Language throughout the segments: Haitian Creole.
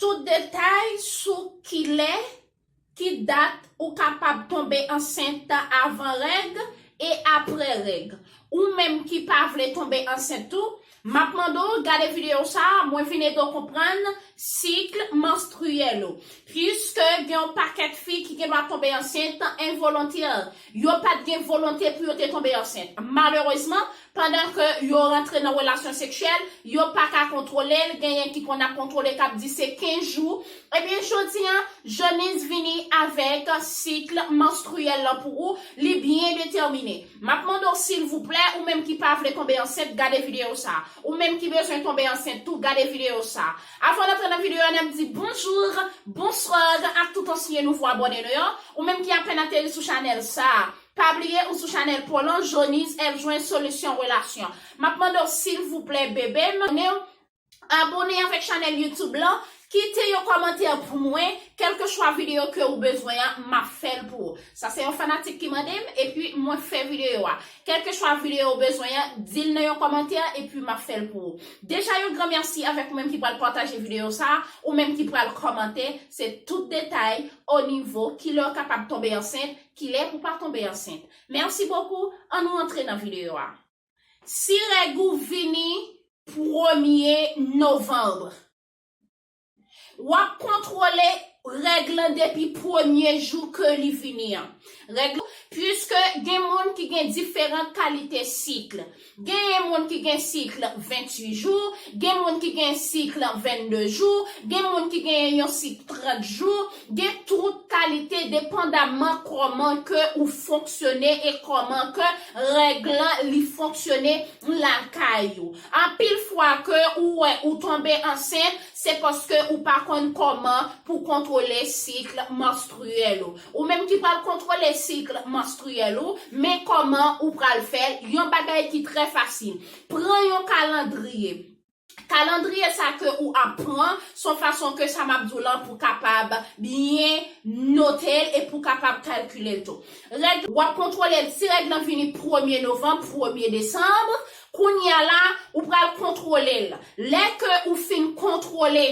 Tout detay sou kilè, ki dat ou kapab tonbe ansent avan règ e aprè règ. Ou menm ki pa vle tonbe ansent tou, map mande w gade videyo sa a, mwen vin ede w konprann sikl manstriyèl ou. Puiske gen yon pakèt fi ki gendwa tonbe ansent envolontirl, Yo pa t gen volonte pou yo te tonbe ansent. Malerezman, pandan ke yo rantre nan relasyon seksyèl, yo pa ka kontwole l, genyen ki konn ap kontwole k ap di se 15 jou. Ebyen jodi an, Janice vini avèk sikl manstriyèl lan pou ou, li byen detèmine. M ap mande w silvouplè, ou menm ki pa vle tonbe ansent, gade videyo sa a. Ou menm ki bezwen tonbe ansent tou, gade videyo sa a. Avan n antre nan videyo a n ap di bonjour, bonsoir ak tout ansyen nouvo abòne nou yo. Ou menm ki apèn ateri sou chanèl sa a, pa bliye ou sou chanèl Polan Joniz èv jwenn solisyon relasyon. M ap mande w silvouplè bebe m, abone w, abone avèk chanèl YouTube lan, kite yon kòmantè pou mwen, kèlkechwa videyo ke ou bezwen an, m ap fè l pou ou. Sa se yon fanatik ki mande m, epi mwen fè videyo a. Kelkeswa video ou bezwen an, di l nan yon kòmantè epi m ap fè l pou ou. Deja yon gran mèsi avèk ou menm ki pral pataje video sa a, ou menm ki pral kòmante, se tout detay o nivo kilè ou kapab tonbe ansent, kilè pou pa tonbe ansent. Merci beaucoup, an nou antre nan video a. Si règ ou vini premye novembre. Wap kontwole règ lan depi premye jou ke li vini an. Règ lan, puiske gen moun ki gen diferan kalite sikl. Genyen moun ki gen sikl 28 jou, gen moun ki gen sikl 22 jou, gen moun ki genyen yon sikl 30 jou, gen tout kalite depandamman kòman ke ou fonksyone e kòman ke règ lan li fonksyone lakay ou. Anpil fwa ke ou wè ou tonbe ansent, se paske ou pa konn kòman pou kontwole cycle menstruel ou. Ou menm ki pral kontwole cycle menstruel ou, men kòman ou pral fèl, yon bagay ki trè fasil. Pran yon kalandriye, kalandriye sa ke ou ap pran, son fason ke sa map di w lan pou kapab byen notel e pou kapab kalkilel tou. Règ, wap kontwolel si règ lan vini premye novanb, premye desanb, Kounya la ou pral kontwole l. Lè ke ou fin kontwole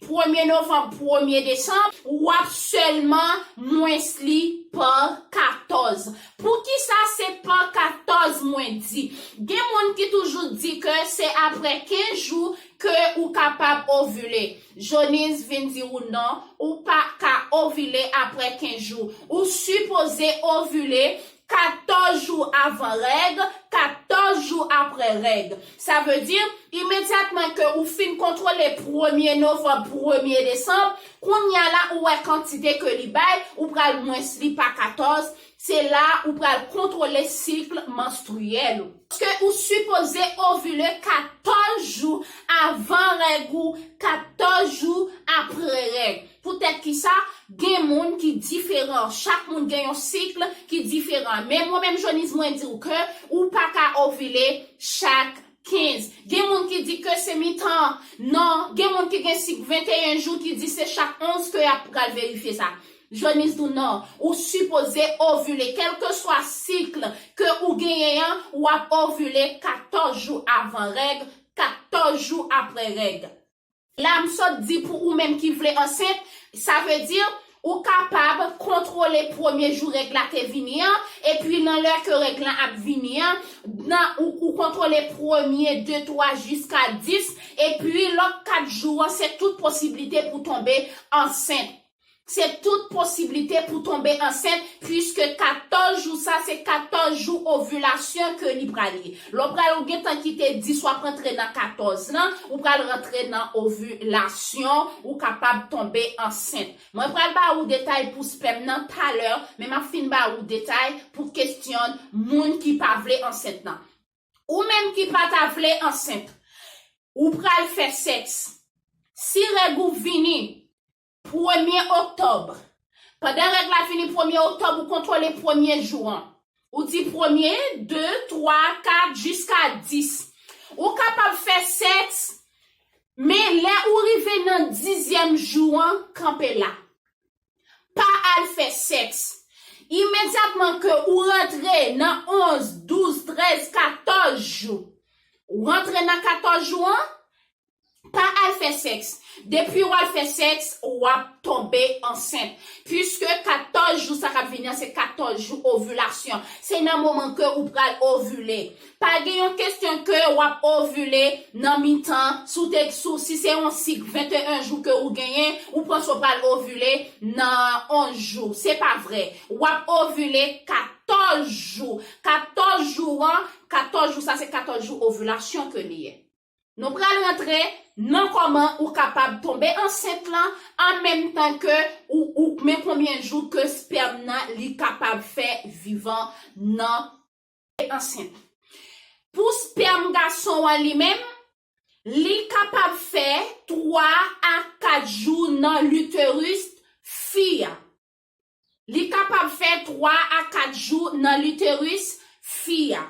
premye novanb premye desanm, ou ap sèlman mwens li pa katòz. Poukisa se pa katòz mwen di? Gen moun ki toujou di ke se apre 15 jou ke ou kapab ovile. Jonise vin di ou non, ou pa ka ovile apre 15 jou. Ou sipoze ovile 14 jou avan règ, 14 jou aprè règ. Sa vle di, imedyatman ke ou fin kontwole premye novanb, premye desanb, kounya la ou wè kantite ke li bay, ou pral mwens li pa 14, se la ou pral kontwole sikl manstriyèl ou. Paske ou sipoze ovile 14 jou avan règ ou, 14 jou aprè règ. Poutèt ki sa, gen moun ki diferan. Chak moun gen yon cycle ki diferan. Men mwen menm Joniz mwen di w ke ou pa ka ovile chak 15. Gen moun ki di ke se mitan nan, gen moun ki gen cycle 21 jou ki di se chak 11 ke yap pral verifye sa. Joniz di w nan, ou sipoze ovile kelkeswa cycle ke ou genyen an, wap ovile 14 jou avan règ, 14 jou aprè règ. La m sot di pou ou menm ki vle ansent, sa vle di, ou kapab kontwole premye jou règ la te vini an, epi nan lè ke règ lan ap vini an, nan ou ou kontwole premye, de, twa jiska dis, epi lòt kat jou an se tout posiblite pou tonbe ansent. Se tout posiblite pou tonbe ansent puiske 14 jou sa se 14 jou ovulasyon ke li pral ye. Lè w pral ou gentan kite 10 wap rantre nan 14 lan, ou pral rantre nan ovulasyon, ou kapab tonbe ansent. Mwen pral ba ou detay pou spèm nan talè, men map fin ba ou detay pou kesyon moun ki pa vle ansent nan. Ou menm ki pa ta vle ansent, ou pral fè sèks. Si règ ou vini, Premye oktòb, Pandan règ la fini premye oktòb ou kontwole premye jou an. Ou di premye, de, twa, kat, jiska dis. Ou kapab fè sèks, men lè ou rive nan dizyèm jou an, kanpe la. Pa al fè sèks. Imedyatman ke ou rantre nan onz, douz, trèz, katòz jou. Ou rantre nan katòz jou an, Pa al fè sèks. Depi w al fè sèks, w ap tonbe ansent. Piske 14 jou sa k ap vini an se 14 jou ovilasyon. Se nan moman ke ou pral ovile. Pa gen yon kesyon ke w ap ovile nan mitan, si w te, si w, si se yon sik 21 jou ke ou genyen, ou panse ou pral ovile nan 11 jou. Se pa vre. W ap ovile 14 jou. 14 jou an, 14 jou sa se 14 jou ovilasyon ke li ye. Nou pral rantre Nan kòman ou kapab tonbe ansent lan an menm tan ke ou ou kmen konbyen jou ke spèm nan li kapab fè vivan nan ansent. Pou spèm gason an li menm, li kapab fè 3 a 4 jou nan l'uterus fi a. Li kapab fè 3 a 4 jou nan literus fi a.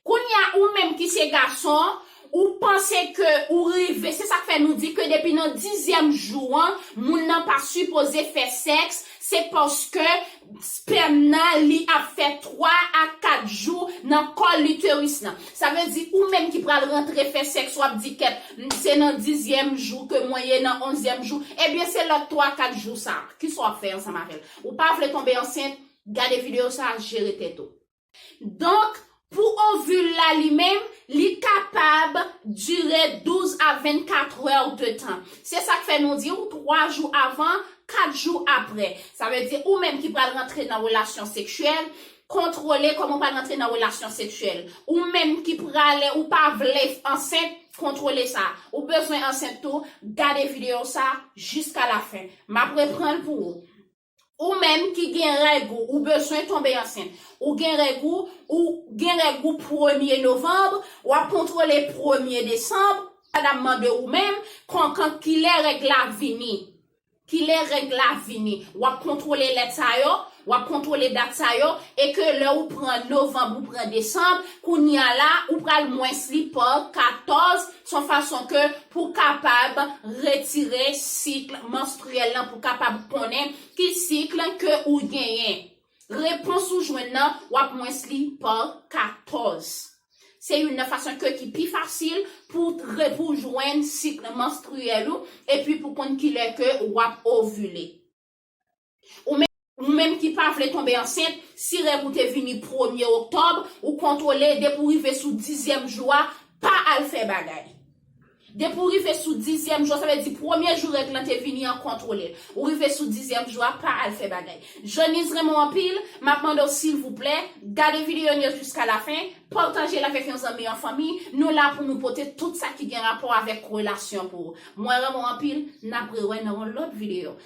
Kounya ou menm ki se gason, ou panse ke ou rive, se sak fè nou di ke depi nan dizyèm jou an, moun nan pa sipoze fè sèks, se paske spèm nan li ap fè 3 a 4 jou nan kòl literus nan. Sa vle di ou menm ki pral rantre fè sèks wap di kèt, se nan dizyèm jou ke mwen ye, nan onzyèm jou, ebyen se lòt 3 4 jou sa a. Kisa wap fè ansanm avèl? Ou pa vle tonbe ansent? Gade video sa jere tèt ou. Donk pou ovule la li menm li kapab dire 12 a 24 heures de tan. Se sak fè nou diw 3 jou avan, 4 jou aprè. Sa vle di ou menm ki pral rantre nan relasyon seksyèl, kontwole koman ou pral rantre nan relasyon seksyèl. Ou menm ki prale ou pa vle ansent, kontwole sa. Ou bezwen ansent tou, gade video sa jiska la fen. Map repranl pou ou. Ou menm ki gen règ ou ou bezwen tonbe ansent ou gen règ ou ou gen règ ou premye novanb wap kontwole premye desanb madam mande ou menm konkan kilè règ la vini kilè règ la vini wap kontwole lèt sa yo Wap kontrole dat sa yo e ke lè ou pran novanb ou pran desanb kounya la ou pral mwens li pa 14 son fason ke pou kapab retire sikl manstriyèl lan pou kapab konnen ki sikl ke ou genyen repons ou jwenn nan wap mwens li pa 14 se youn nan fason ke ki pi fasil pou re pou jwenn sikl manstriyèl ou epi pou konn kilè ke wap ovile. Ou menm ki pa vle tonbe ansent, si règ ou te vini premye oktòb, ou kontwole depi w rive sou dizyèm jou a, pa al fè bagay. Depi w rive sou dizyèm jou a, sa vle di premye jou règ lan te vini an kontwole l. Ou rive sou dizyèm jou a, pa al fè bagay. Jeniz renmen w anpil, m ap mande w silvouplè, gade videyo n yo jiska lafen, pataje l avèk yon zanmi an fanmi, nou la pou nou pote tout sa ki gen rapò avèk relasyon pou ou. Mwen renmen w anpil, n ap rewè nan yon lòt videyo.